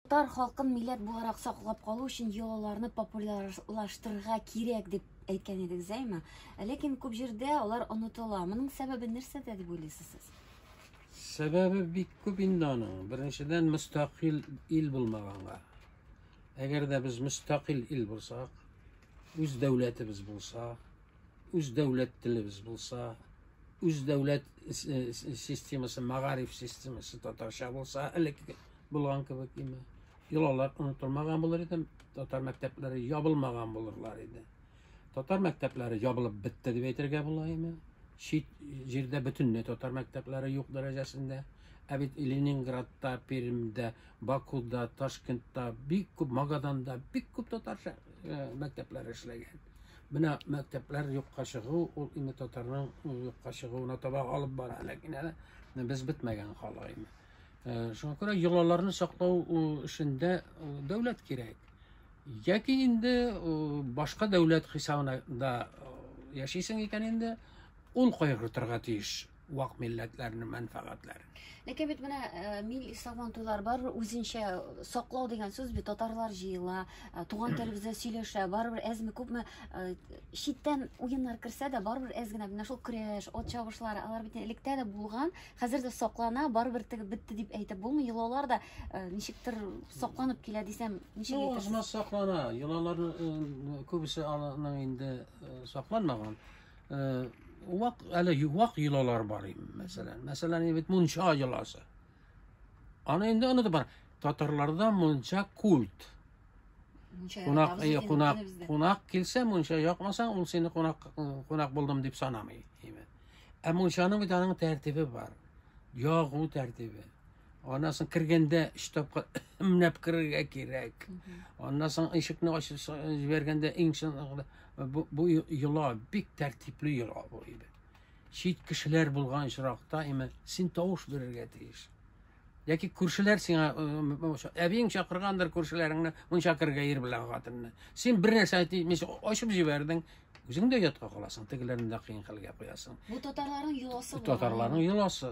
Татар халкын милләт буларак саклап калу өчен йолаларны популярлаштырырга кирәк дип әйткән идек Зәйма. Ләкин күп җирдә алар онытыла. Моның сәбәбе нәрсәдә дип уйлыйсыз сез? Сәбәбе бик күп инде аның. Беренчедән, мөстәкыйль ил булмаганга. Әгәр дә без мөстәкыйль ил булсак, үз дәүләтебез булса, үз дәүләт телебез булса, үз дәүләт системасы, мәгариф системасы татарча булса, элек булган кебек име? Йолалар онытылмаган булыр иде, татар мәктәпләре ябылмаган булырлар иде. Татар мәктәпләре ябылып бетте дип әйтергә була име? Чит җирдә бөтенләй татар мәктәпләре юк дәрәҗәсендә. Ә бит Ленинградта, Пермьдә, Бакуда, Ташкентта, бик күп Магаданда бик күп татарча мәктәпләр эшләгән. Менә мәктәпләр юкка чыгу, ул инде татарның юкка чыгуына таба алып бара, ләкин әле без бетмәгән хала инде. Э, шуңа күрә йолаларны саклау эшендә дәүләт кирәк. Яки инде башка дәүләт хисабына да яшисең икән инде, ул кайгыртырга тиеш. вак милләтләрнең мәнфәгатьләре. Ләкин бит менә э, милли сабантуйлар барыбер үзенчә саклау дигән сүз бит татарлар җыела, э, туган телебездә сөйләшә, барыбер әзме күпме э, читтән уеннар керсә дә барыбер әз генә менә шул көрәш, от чабышлары, алар бит электә дә булган, хәзер дә саклана, барыбер теге бетте дип әйтеп булмый, йолалар да ничектер сакланып килә дисәм, ничек ну, әйтәсез? саклана, йолалар күбесе аның инде сакланмаган. Э, вак әле вак йолалар бар инде мәсәлән мәсәлән инде бит мунча йоласы аны инде онытып бар татарларда мунча культ кунак э, кунак кунак килсә мунча якмасаң ул сине кунак э, кунак булдым дип санамый ә мунчаның бит аның тәртибе бар ягу тәртибе Аннан соң кергәндә өч тапкыр менәп керергә кирәк. Аннан соң ишекне ачып җибәргәндә иң чынлыкта бу, бу йола бик тәртипле йола бу иде. Чит кешеләр булган очракта имә син тавыш бирергә тиеш. Яки күршеләр сиңа әбиең чакыргандыр күршеләреңне, мунча кергә ир белән хатынны. Син бер нәрсә әйтмичә ачып җибәрдең, үзең дә ятка каласың, тегеләрне дә кыен хәлгә куясың. Бу татарларның йоласы бу. Татарларның йоласы.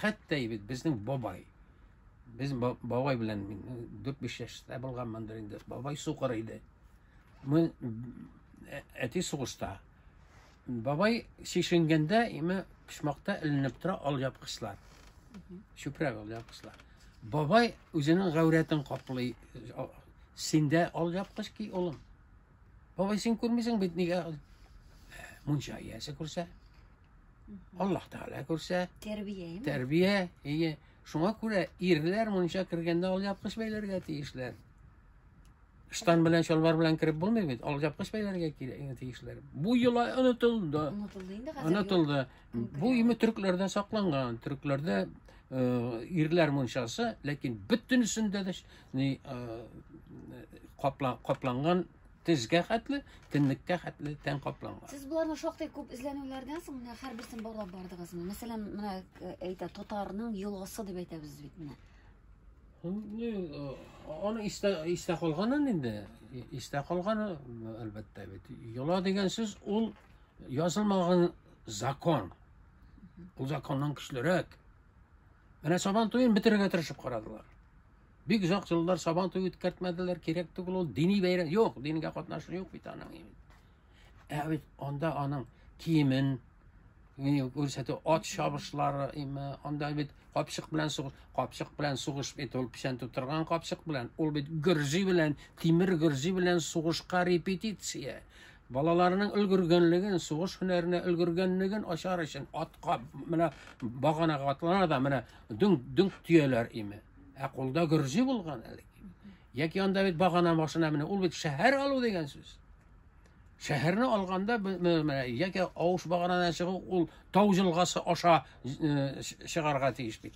хәтта бит безнең бабай без бабай белән мин дүрт биш яшьтә булганмындыр инде бабай сукыр иде мин ә, әти сугышта бабай шешенгәндә име почмакта эленеп тора алъяпкычлар чүпрәк алъяпкычлар бабай үзенең гәүрәтен каплый синдә алъяпкыч ки улым Бабай, син күрмисең бит нигә ул? Ә, Мунча иясе күрсә, Аллаһ Тәгалә күрсә, Тәрбия, әйеме? тәрбия, ие. Шуңа күрә ирләр мунча кергәндә алъяпкыч бәйләргә тиешләр. Штан белән чалбар белән кереп булмый бит, алъяпкыч бәйләргә кирәк тиешләр. Бу йола онытылды. Онытылды инде хәзер. Онытылды. Көн Бу көне. име төрекләрдә сакланган. Төрекләрдә э, ирләр мунчасы, ләкин бөтенесендә дә ш- ни каплан капланган тезгә хәтле тенлеккә хәтле тән капланган сез боларны шактый күп эзләнүләрдән соң менә һәрберсен барлап бардыгызмы мәсәлән менә әйтә татарның елгасы дип әйтәбез бит менә аны истә истә калганын инде истә калганы әлбәттә бит йола дигән сүз ул язылмаган закон ул законнан көчлерәк Менә сабан туен бетерергә тырышып карадылар. Бик озак еллар сабан туе үткәртмәделәр, кирәк түгел ул дини бәйрәм. Юк, дингә катнашы юк бит аның. Ә бит анда аның киемен күрсәтү, ат чабышлары, анда бит капчык белән сугыш, капчык белән сугыш бит ул печән тутырган капчык белән. Ул бит гөрзи белән, тимер гөрзи белән сугышка репетиция. Балаларының өлгергәнлеген, сугыш һөнәренә өлгергәнлеген ачар өчен атка менә баганага атлана да менә дүң дүң төяләр име. Ә кулда гөрҗи булган әле. Яки анда бит багана машина менә ул бит шәһәр алу дигән сүз. Шәһәрне алганда менә яки авыш баганадан чыгу ул тау җылгасы аша э, чыгарга тиеш бит.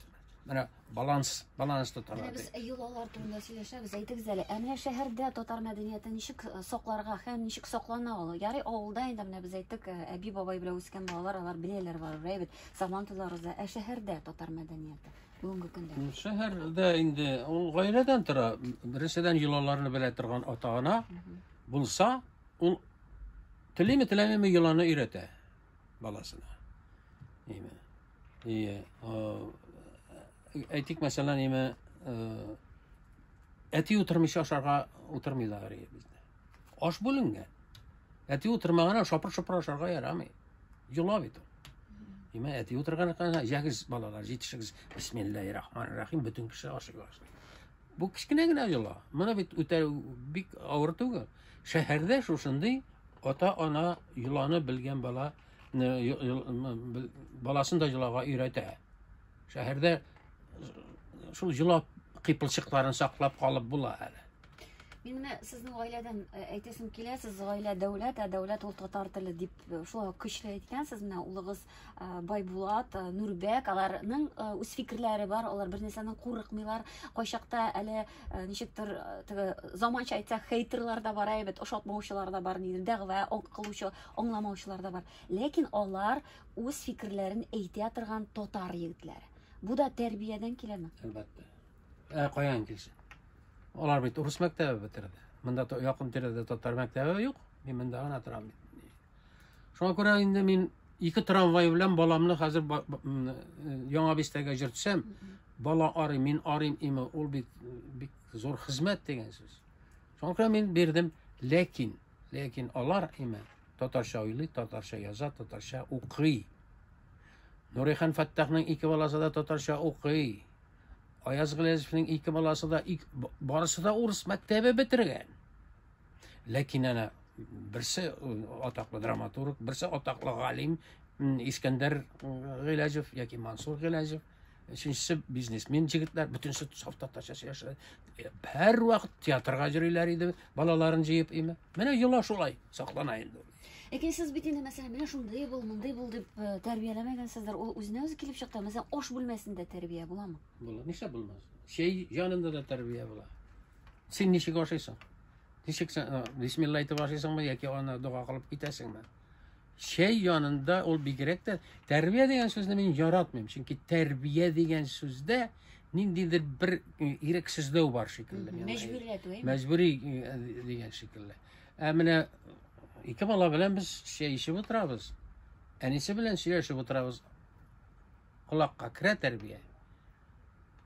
Менә баланс, баланс тотарга. Без йолалар турында сөйләшәбез. Әйтегез әле, ә менә шәһәрдә татар мәдәнияте ничек э, сакларга һәм ничек саклана ул? Ярый, авылда инде менә без әйттек, э, әби бабай белән үскән балалар, алар беләләр бар, әйбәт. Сабан туза роза, ә шәһәрдә татар мәдәнияте бүгенге көндә. Шәһәрдә инде ул гаиләдән тора. Беренчедән йолаларны белә торган ата-ана булса, ул телеме теләмеме йоланы өйрәтә. баласына. Әйме. Әйе. Әйтик, мәсәлән, әйме, әти утырмыйча ашарга утырмыйлар әйе бездә. Аш бүленгән. Әти утырмаган шапыр-шопыр ашарга ярамый. Йола бит. Әйме, әти утырган икән, җәгез балалар, җитешегез. Бисмиллаһир-рахманир-рахим, бөтен кеше ашый башлый. Бу кечкенә генә йола. Моны бит үтә бик авыр түгел. Шәһәрдә шушындый ата-ана йоланы белгән бала баласын да йолага өйрәтә. Шәһәрдә шул йола кыйпылчыкларын саклап калып була әле. Мин менә сезнең гаиләдән э, әйтәсем килә, сез гаилә дәүләт, ә дәүләт ул татар теле дип э, шулай көчле әйткәнсез. Менә улыгыз байбулат нурбәк аларның үз фикерләре бар алар бернәрсәдән курыкмыйлар кайчакта әле ничектер теге заманча әйтсәк хейтерлар да бар әйбәт ошатмаучылар да бар нидер дәгъва кылучы аңламаучылар да бар ләкин алар үз фикерләрен әйтә торган татар егетләре бу да тәрбиядән киләме әлбәттә ә каян килсен алар бит урыс мәктәбе бетерде монда якын тирәдә татар мәктәбе юк мин монда гына торам бит Шуңа күрә инде мин ике трамвай белән баламны хәзер яңа бистәгә җөртсәм, бала арый, мин арыйм име, ул бит бик зур хезмәт дигән сүз. Шуңа күрә мин бирдем, ләкин, ләкин алар име татарча уйлый, татарча яза, татарча укый. Нурихан Фәттахның ике баласы да татарча укый. Аяз Гылязовның ике баласы да, ик, барысы да урыс мәктәбе бетергән. Ләкин әнә берсе атаклы драматург, берсе атаклы галим Искәндәр Гыйләҗев яки Мансур Гыйләҗев, өченчесе бизнесмен җегетләр, бөтенесе саф татарча сөйләшә. Һәр вакыт театрга йөриләр иде, балаларын җыеп име. Менә йола шулай саклана инде. Ләкин сез бит инде мәсәлән, менә шундый бул, мондый бул дип э, тәрбияләмәгәнсездер. Ул үзенә үзе килеп чыкты. Мәсәлән, аш бүлмәсендә тәрбия буламы? Була. Нишләп булмас? Чәй янында да тәрбия була. Син ничек ашыйсың? Ничек сен э, бисмилла әйтеп ашыйсыңмы яки аны дога кылып китәсеңме? Чәй янында ул бигрәк тә тәрбия дигән сүзне мин яратмыйм, чөнки тәрбия дигән сүздә ниндидер бер э, ирек сүзләү бар шикелле. Мәҗбүриләтү, әйме? Мәҗбүри э, дигән шикелле. Ә менә ике бала белән без чәй эчеп утырабыз. Әнисе белән сөйләшеп утырабыз. колакка керә тәрбия.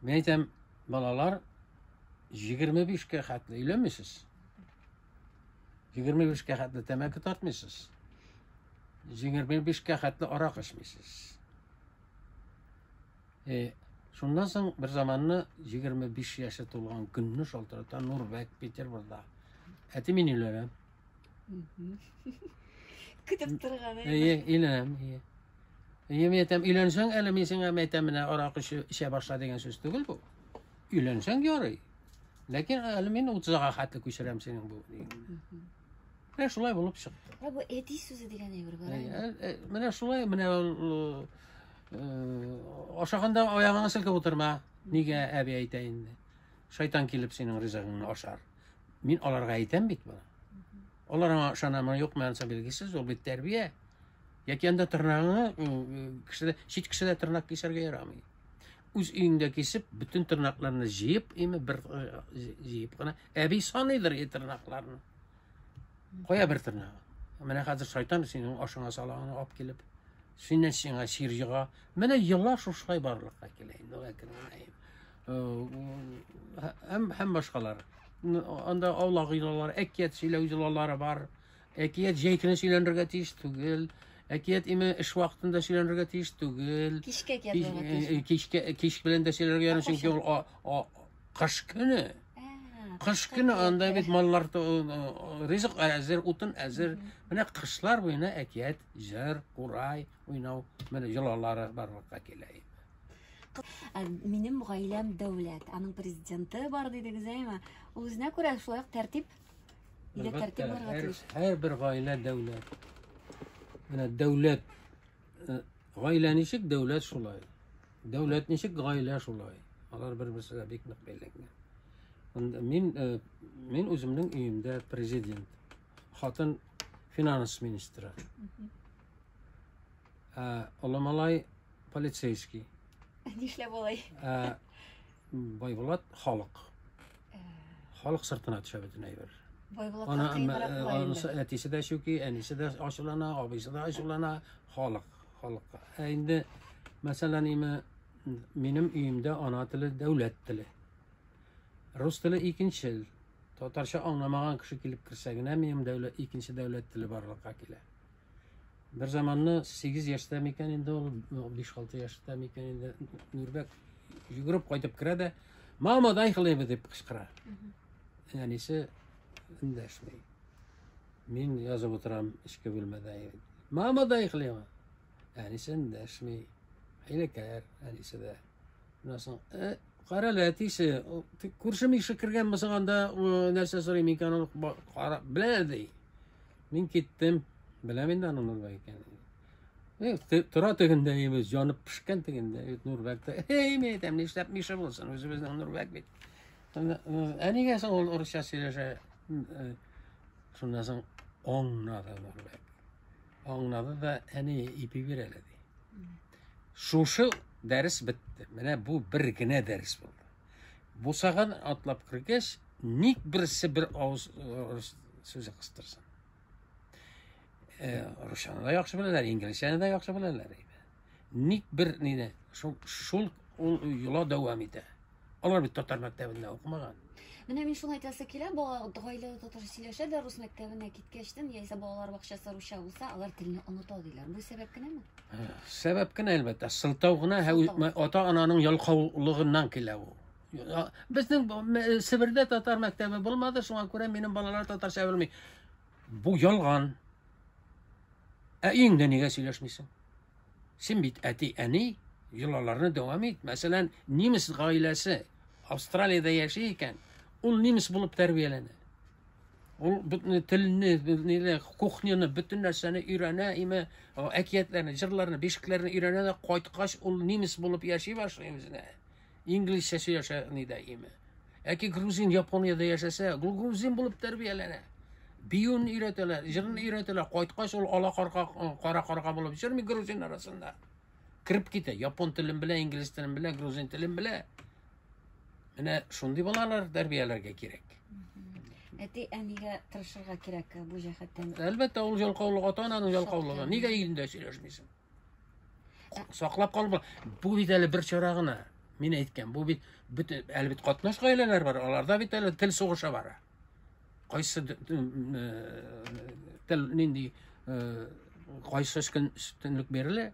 Мин әйтәм, балалар 25 кә хәтле өйләнмисез. 25 кә хәтле тәмәке тартмыйсыз. 25 кә хәтле арак эчмисез. Э, шуннан соң бер заманны 25 яше тулган көнне шалтырата Нурбәк Петербурда. Әти мин өйләнәм. Көтеп торган. Әйе, инәм, әйе. Әйе, мин әйтәм, өйләнсәң әле мин сиңа әйтәм, менә арак эчә, эчә башла дигән сүз түгел бу. Өйләнсәң ярый. Ләкин әле мин 30-га хәтле күчерәм синең бу. Менә шулай булып чыкты. Ә бу әти сүзе дигән әйбер бар. Әйе, менә шулай, менә ул ашаганда аягыңны селкеп утырма. Нигә әби әйтә инде? Шайтан килеп синең ризыгыңны ашар. Мин аларга әйтәм бит моны. Алар аңа ышанамы, юкмы, анысы билгесез, ул бит тәрбия. Яки анда тырнагыңа кешедә чит кешедә тырнак кисәргә ярамый. Үз өеңдә кисеп, бөтен тырнакларны җыеп, име бер җыеп кына, әби саныйдыр и тырнакларны. Кая бер тырнак? Менә хәзер шайтан синең ашыңа салаңны алып килеп, синнән сиңа сир җыга. Менә еллар шушылай барлыкка килә инде, ләкин һәм һәм башкалар. Анда авла гыйлалар, әкият сөйләү җылалары бар. Әкият җәй көне сөйләнергә тиеш түгел. Әкият име эш вакытында сөйләнергә тиеш түгел. Кичкә язарга тиеш. Э, э, кичкә э, кич белән дә сөйләргә ярамый, чөнки ул кыш көне. Кыш көне анда бит маллар ризык әзер, утын әзер. Менә кышлар буена әкият, җыр, курай, уйнау, менә җылалары барлыкка килә. Ә минем гаиләм дәүләт. Аның президенты бар дидегез, әйме? Ул үзенә күрә шулай ук тәртип. Илә тәртип булырга һәр, тиеш. һәр бер гаилә дәүләт. Менә дәүләт э, гаилә ничек дәүләт шулай. Дәүләт ничек гаилә шулай. Алар бер-берсенә бик нык бәйләнгән. Анда Мин э, мин үземнең өемдә президент. Хатын финанс министры. Ә, олы малай полицейский. Нишләп болай? Ә, Байбулат халык. Э. Халык сыртына төшә бөтен әйбер. Байбулат Ана, анысы әтисе дә чүки, әнисе дә ачулана, абыйсы да ачулана, халык, халыкка. Ә инде мәсәлән, име минем өемдә ана теле дәүләт теле. Рус теле икенчел. Татарча аңламаган кеше килеп керсә генә минем дәүләт икенче дәүләт теле барлыкка килә. Бер заманны 8 яшьтә микән инде ул, 5-6 яшьтә микән инде Нурбәк йөгереп кайтып керә дә, "Мама, дай хлеба" дип кычкыра. Әнисе эндәшми. Мин язып утырам эчке бүлмәдә. "Мама, дай хлеба". Әнисе эндәшми. Хәйләкәр әнисе дә. Менә соң, э, кара әле әтисе, күршем ише кергән булсаң анда нәрсә сорыйм икән ул кара белә ди. Мин киттем. Беләм инде аның Нурбәк икәнен. Э, тора тегендә имез, янып пешкән тегендә э, Нурбәктә. Эй, мин әйтәм, нишләп мише булсын, үзебезнең Нурбәк бит. Ә нигә соң ул урысча сөйләшә? Э, шуннан соң аңнады Нурбәк. Аңнады да әни ипи бир әле ди. Шушы дәрес бетте. Менә бу бер генә дәрес булды. Бусаган атлап кергәч, ник берсе бер авыз рус сүзе кыстырсын? Э, русчаны да яхшы беләләр, инглизчәне дә яхшы беләләр. Ник бер нине шул шул ул йола дәвам итә. Алар бит татар мәктәбендә укымаган. Менә мин шуны әйтәсе килә, бала гаиләдә татарча сөйләшә дә, рус мәктәбенә киткәчтен, яисә балалар бакчасы русча булса, алар телне оныта диләр. Бу сәбәп кенәме? Сәбәп кенә әлбәттә, сылтау гына һәм ата-ананың ялкаулыгыннан килә ул. Безнең э, Себердә татар мәктәбе булмады, шуңа күрә минем балалар татарча белми. Бу ялган. Ә өеңдә нигә сөйләшмисең? Син бит әти-әни, йолаларны дәвам ит. Мәсәлән, немец гаиләсе Австралиядә яши икән, ул немец булып тәрбияләнә. Ул бөтен телне, ниле, кухняны, бөтен нәрсәне өйрәнә, име, әкиятләрне, җырларны, бишекләрне өйрәнә дә кайткач, ул немец булып яши башлый үзенә. инглизчә сөйләшә ни дә име. Әки грузин Япониядә яшәсә, гул грузин булып тәрбияләнә. Биюн өйрәтәләр, җырын өйрәтәләр, кайткач ул ала карга, кара карга булып җырмый грузин арасында. Кирип китә, япон телен белә, инглиз телен белә, грузин телен белә. Менә шундый балалар тәрбияләргә кирәк. Әти әнигә тырышырга кирәк бу җәһәттән. Әлбәттә, ул ялкаулык, ата-ананың ялкаулыгы. Нигә илендә сөйләшмисең? саклап калып бу бит әле бер чара гына мин әйткән бу бит бөтен әле бит катнаш гаиләләр бар аларда бит әле тел сугыша бара кайсы тел нинди кайсы өстенлек бирелә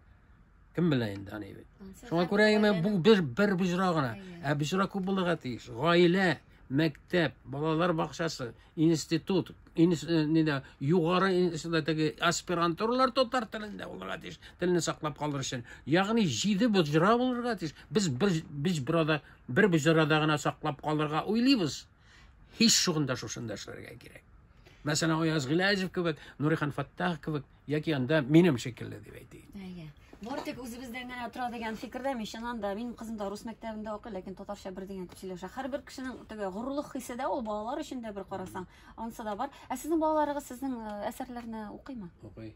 кем белә инде аны бит шуңа күрә генә бу бер бер боҗра гына ә боҗра күп булырга тиеш гаилә мәктәп, балалар бакчасы, институт, инс, э, нидә, югары институтдагы аспирантуралар татар телендә булырга тиеш, телне саклап калыр өчен. Ягъни җиде боҗра булырга тиеш. Без бер без burada бер боҗрада гына саклап калырга уйлыйбыз. Һич шугында шушында эшләргә кирәк. Мәсәлән, Аяз Гыйләҗев кебек, Нурихан Фаттах кебек Яки анда минем шикелле дип әйтик. Әйе. Бары тик үзебездән генә тора дигән фикердә мин чыннан да минем кызым да рус мәктәбендә укый, ләкин татарча бер дигән дип сөйләшә. Һәрбер кешенең теге горурлык хисе дә ул балалар өчен дә бер карасаң, анысы да бар. Ә сезнең балаларыгыз сезнең э, әсәрләрне укыймы? Укый.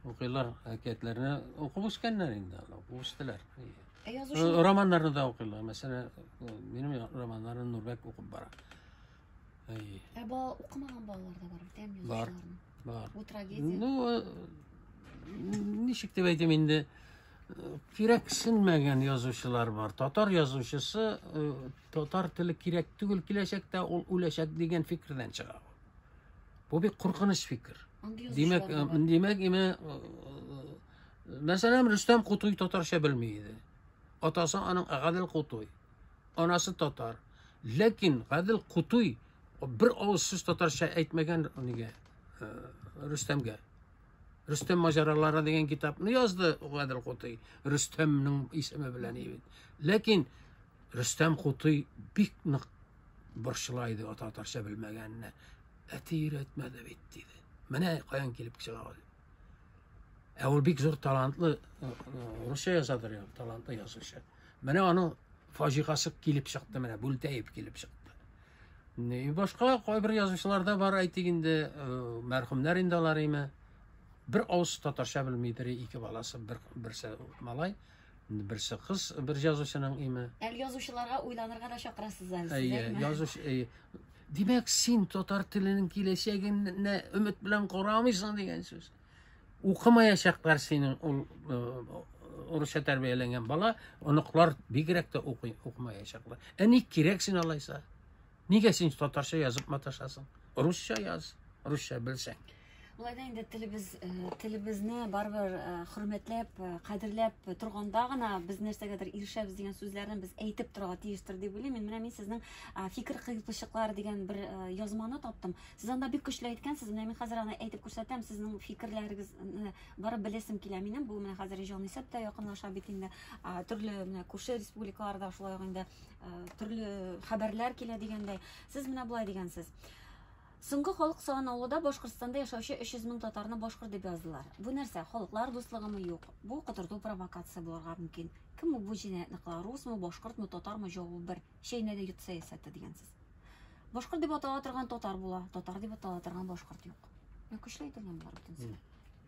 Укыйлар, әкиятләрне укып үскәннәр инде, алар, укып үстеләр. Ә язучы Э, Романнарны да укыйлар. Мәсәлән, э, минем я- романнарны Нурбәк укып бара. Әйе. Ә бала укымаган балалар да бар, тәм Бар. язучыларның. Бар. Бу трагедия. Ну, э, ничек дип әйтим инде, э, кирәксенмәгән язучылар бар. Татар язучысы э, татар теле кирәк түгел киләчәктә, ул үләчәк дигән фикердән чыга. Бу бик куркыныч фикер. Андый Димәк, язучылар да бар. э, димәк, име, э, мәсәлән, Рөстәм Кутуй татарча белми иде. Атасы аның Гадел Кутуй. Анасы татар. Ләкин Гадел Кутуй бер авыз сүз татарча әйтмәгән нигә э, Рөстәмгә. Рөстәм маҗаралары дигән китапны язды Гадел Кутуй. Рөстәмнең исеме белән бит. Ләкин Рөстәм Кутуй бик нык борчыла иде ата татарча белмәгәненә. Әти өйрәтмәде бит диде. Менә каян килеп чыга ул. Ә ул бик зур талантлы русча язадыр, талантлы язучы. Менә аның фаҗигасы килеп чыкты, менә Бүлтәев килеп чыкты. И башка кайбер язучылар да бар, әйтик инде, мәрхүмнәр инде алар име. Бер авыз татарча белмидер, ике баласы, бер берсе малай, Инде берсе кыз, бер язучының име? Әле язучыларга уйланырга да чакырасыз әле. Әйе, язуч, әйе. Димәк, син татар теленең киләчәгенә өмет белән карамыйсың дигән сүз. Укымаячаклар синең ул урысча тәрбияләнгән бала, оныклар бигрәк тә укымаячаклар. Ә ник кирәк син алайса? Нигә син татарча язып маташасың? Русча яз, русча белсәң. Болай да инде телебез, э, телебезне барыбер э, хөрмәтләп, э, кадерләп торганда гына без нәрсәгәдер ирешәбез дигән сүзләрне без әйтеп торырга тиештер дип уйлыйм. Мин менә мин сезнең фикер кыйпылчыклар дигән бер язманы таптым. Сез анда бик көчле әйткәнсез. Менә мин хәзер аны әйтеп күрсәтәм. Сезнең фикерләрегезне барып беләсем килә минем. Бу менә хәзер Җанисәп тә якынлаша бит инде. Төрле менә күрше республикаларда шулай ук инде төрле хәбәрләр килә дигәндәй сез менә болай дигәнсез Соңгы халык саналуы да Башкортстанда яшәүче 300 мең татарны башкорт дип яздылар. Бу нәрсә? Халыклар дуслыгымы юк? Бу котырту провокация булырга мөмкин. Кем ул бу җинаятьне кыла? Русмы, башкортмы, татармы? Җавабы бер. Чәйнәдә йот сәясәте дигәнсез. Башкорт дип атала торган татар була, татар дип атала торган башкорт юк. Мә көчле әйтелгән болар бөтенесе.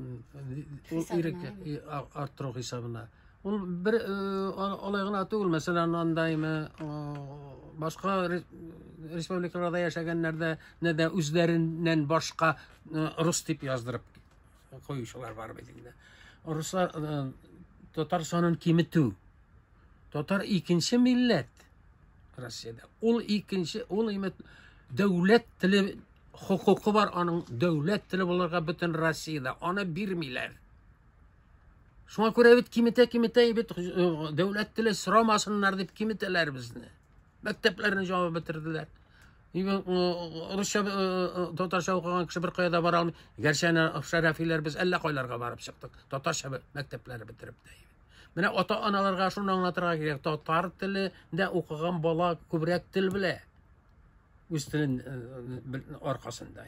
ул иреккә арттыру хисабына ул бер алай гына түгел мәсәлән андаймы башка республикаларда яшәгәннәрдә не дә үзләреннән башка рус дип яздырып куючылар бар бит инде руслар татар санын киметү Татар икенче милләт Россиядә. Ул икенче, ул имет дәүләт теле хокукы бар аның дәүләт теле булырга бөтен Россиядә. Аны бирмиләр. Шуңа күрә бит киметә киметә бит э, дәүләт теле сорамасыннар дип киметәләр безне. Мәктәпләрне җавап бетерделәр. Э, русча э, татарча укыган кеше бер кайда бара алмый. Гәрчә Шәрәфиләр без әллә кайларга барып чыктык. Татарча мәктәпләре бетереп тә. Менә ата-аналарга шуны аңлатырга кирәк. Татар теле дә укыган бала күбрәк тел белә. Үз телен э, аркасында.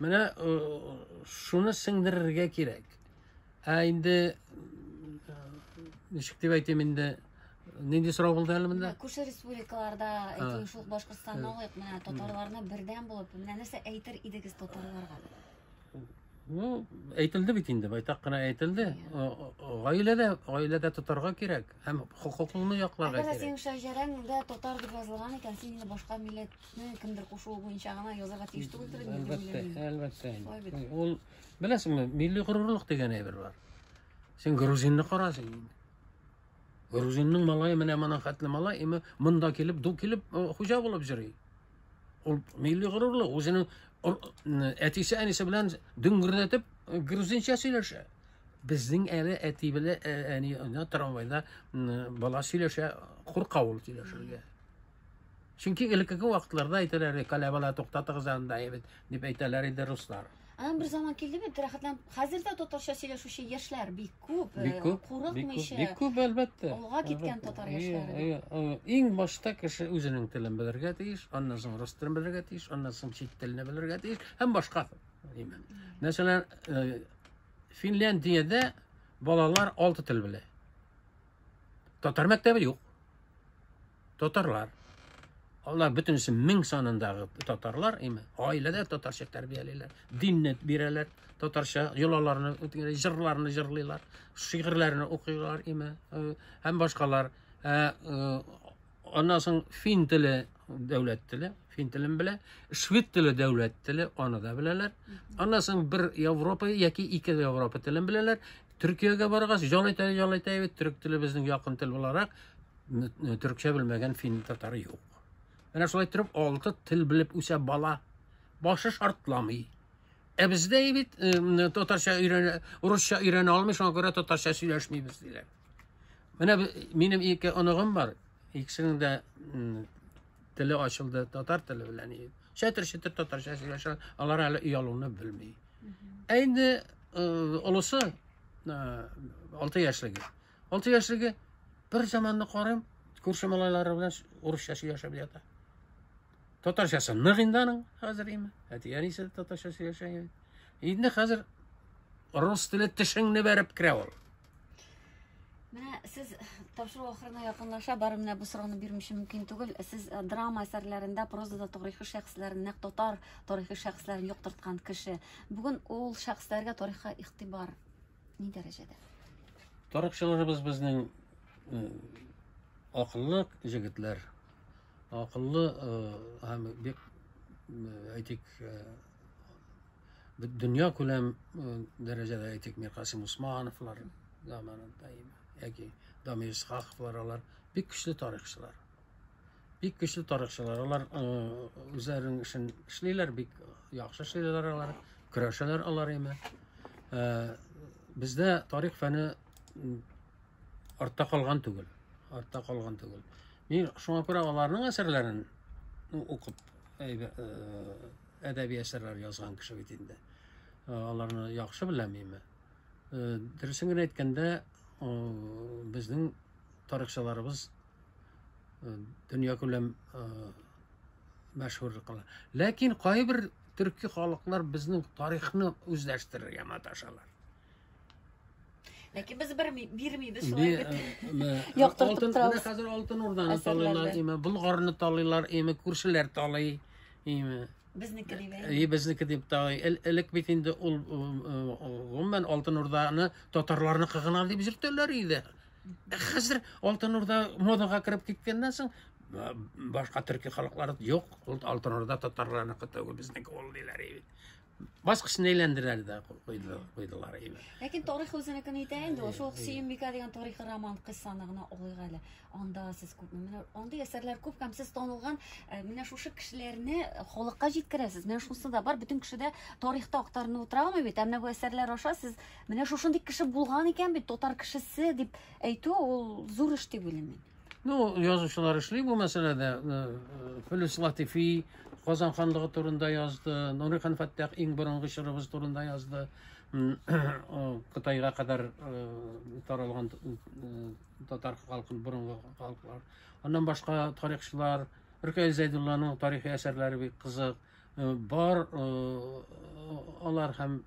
Менә э, шуны сеңдерергә кирәк. Ә инде э, ничек дип әйтим инде нинди сорау булды әле монда? Күрше республикаларда, әйтим, шул Башкортстанны алыйк, менә татарларны бердәм булып, менә нәрсә әйтер идегез татарларга? Ну, әйтелде бит инде, байтак кына әйтелде. Гаиләдә, гаиләдә тотарга кирәк һәм хокукыңны якларга кирәк. Әгәр синең шәҗәрәң дә татар дип язылган икән, син инде башка милләтне кемдер кушуы буенча гына язарга тиеш түгелдер инде. Әлбәттә, әлбәттә. Ул беләсеңме, милли горурлык дигән әйбер бар. Син грузинны карасың инде. Грузинның малае менә моның хәтле малай, име монда килеп, ду килеп, хуҗа булып йөри. Ул милли горурлы, үзенең әтисе әнисе белән дөңгердәтеп грузинча сөйләшә. Безнең әле әти белән ә, әни трамвайда бала сөйләшә, курка ул сөйләшергә. Чөнки элеккеге вакытларда әйтәләр, каләбала туктатыгыз анда бит, дип әйтәләр иде руслар. Анан бер заман килде бит, рәхәтләнеп. Хәзер дә татарча сөйләшүче яшьләр бик күп, э, бик күп, курыкмыйча. Бик күп, әлбәттә. Алга киткән татар яшьләре. Иң башта кеше үзенең телен белергә тиеш, аннан соң рус телен белергә тиеш, аннан соң чит телне белергә тиеш һәм башка. Мәсәлән, э, Финляндиядә балалар алты тел белә. Татар мәктәбе юк. Татарлар. Алар бөтенесе мең санындагы татарлар, әйме, гаиләдә татарча тәрбиялиләр, динне бирәләр, татарча йолаларны, җырларны җырлыйлар, шигырьләрне укыйлар, әйме, э, һәм башкалар. Э, э, аннан соң фин теле дәүләт теле, фин телен белә, швед теле дәүләт теле, аны да беләләр. Аннан соң бер Европа яки ике Европа телен беләләр, Төркиягә баргач, җалайтая җалайтая бит төрек теле безнең якын тел буларак, төркчә белмәгән фин татары юк. Менә шулай торып, алты тел белеп үсә бала. Башы шартламый. Ә бездә бит татарча өйрәнә, урысча өйрәнә алмый, шуңа күрә татарча сөйләшмибез диләр. Менә минем ике оныгым бар. Икесенең дә теле ачылды, татар теле белән и чәтер-чәтер татарча сөйләшә, алар әле оялуны белми. Ә инде олысы 6 яшьлеге. 6 яшьлеге бер заманны карыйм, күрше малайлары белән урысча сөйләшеп ята. Татарчасы нык инде аның хәзер име? Әти әнисе татарча сөйләшә. Инде хәзер рус теле тешеңне бәреп керә ул. Менә сез тапшыру ахырына якынлаша бары менә бу сорауны бирмичә мөмкин түгел. Сез э, драма әсәрләрендә прозада тарихи шәхесләрен, нәкъ татар тарихи шәхесләрен юктырткан кеше. Бүген ул шәхесләргә тарихка игътибар ни дәрәҗәдә? Тарихчыларыбыз безнең э, акыллы җегетләр, акыллы э, һәм бик әйтик дөнья күләм э, дәрәҗәдә әйтик миркасим усмановлар заманында яки дамир исхаковлар алар бик көчле тарихчылар бик көчле тарихчылар алар э, үзләренең эшен эшлиләр бик яхшы эшлиләр алар көрәшәләр алар име э, бездә тарих фәне артта калган түгел артта калган түгел Мин шуңа күрә аларның әсәрләрен укып әдәби әсәрләр язган кеше бит инде. Аларны яхшы беләм мин. Дөресен генә әйткәндә, безнең тарихчыларыбыз дөнья күләм мәшһүр кала. Ләкин кайбер төрки халыклар безнең тарихны үзләштерергә маташалар. Ләкин без бер бирмибез шулай бит. Яктыртып торабыз. Хәзер алтын урданы талыйлар, име, булгарны талыйлар, име, күршеләр талый, име. Безнеке дип. И, безнеке дип талый. Элек бит инде ул гомумән алтын урданы татарларны кыгына дип җөртәләр иде. Хәзер алтын урда модага кереп киткәннән соң башка төрки халыклар юк, ул алтын урда татарларны кытыгы безнеке ул диләр иде. баскычын әйләндерәләр дә куйдылар әйбәт ләкин тарих үзенекен әйтә инде ул шул сөембикә дигән тарихи роман кыссаны гына алыйк әле анда сез күп менә андый әсәрләр күп һәм сез танылган э, менә шушы кешеләрне халыкка җиткерәсез менә шунысы да бар бөтен кеше дә тарихта актарынып утыра алмый бит ә менә бу әсәрләр аша сез менә шушындый кеше булган икән бит татар кешесе дип әйтү ул зур эш дип уйлыйм мин Ну, язучылар эшли бу мәсьәләдә. Э, э, Филүс Латифи Казан ханлыгы турында язды, Нури хан Фәттах иң борынгы чорыбыз турында язды. Кытайга кадәр э, таралган татар халкын борынгы халыклар. Аннан башка тарихчылар Рүкәй Зәйдулланың тарихи әсәрләре бик кызык. Э, бар э, алар һәм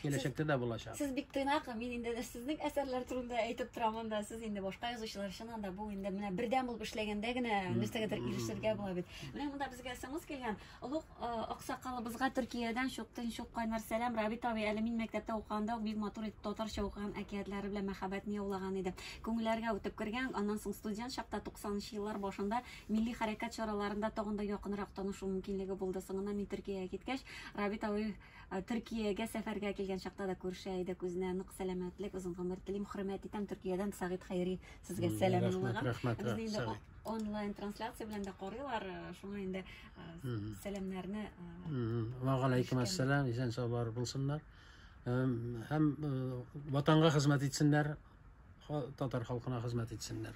киләчәктә дә булачак сез бик тыйнак мин инде сезнең әсәрләр турында әйтеп торам анда сез инде башка язучылар өчен анда бу инде менә бердәм булып эшләгәндә генә нәрсәгәдер ирешергә була бит менә монда безгә смс килгән олуг э, аксакалыбызга төркиядән чуктын чук кайнар сәлам рабит абый әле мин мәктәптә укыганда бик матур итеп татарча укыган әкиятләре белән мәхәббәтне яулаган иде күңелләргә үтеп кергән аннан соң студент чакта 90 еллар башында Милли хәрәкәт чараларында тагын да якынрак танышу мөмкинлеге булды. Соңыннан мин Төркиягә киткәч, Рабит абый э, Төркиягә сәфәргә килгән чакта да күрешә идек. Үзенә нык сәламәтлек, озын гомер телим, хөрмәт итәм. Төркиядән Сагит Хәйри сезгә сәлам юллаган. Рәхмәт, рәхмәт. Безне инде онлайн трансляция белән дә карыйлар. Э, шуңа инде э, сәламнәрне Ва галәйкум ассалам, исән сау бар булсыннар. Һәм ватанга хезмәт итсеннәр, татар халкына хезмәт итсеннәр.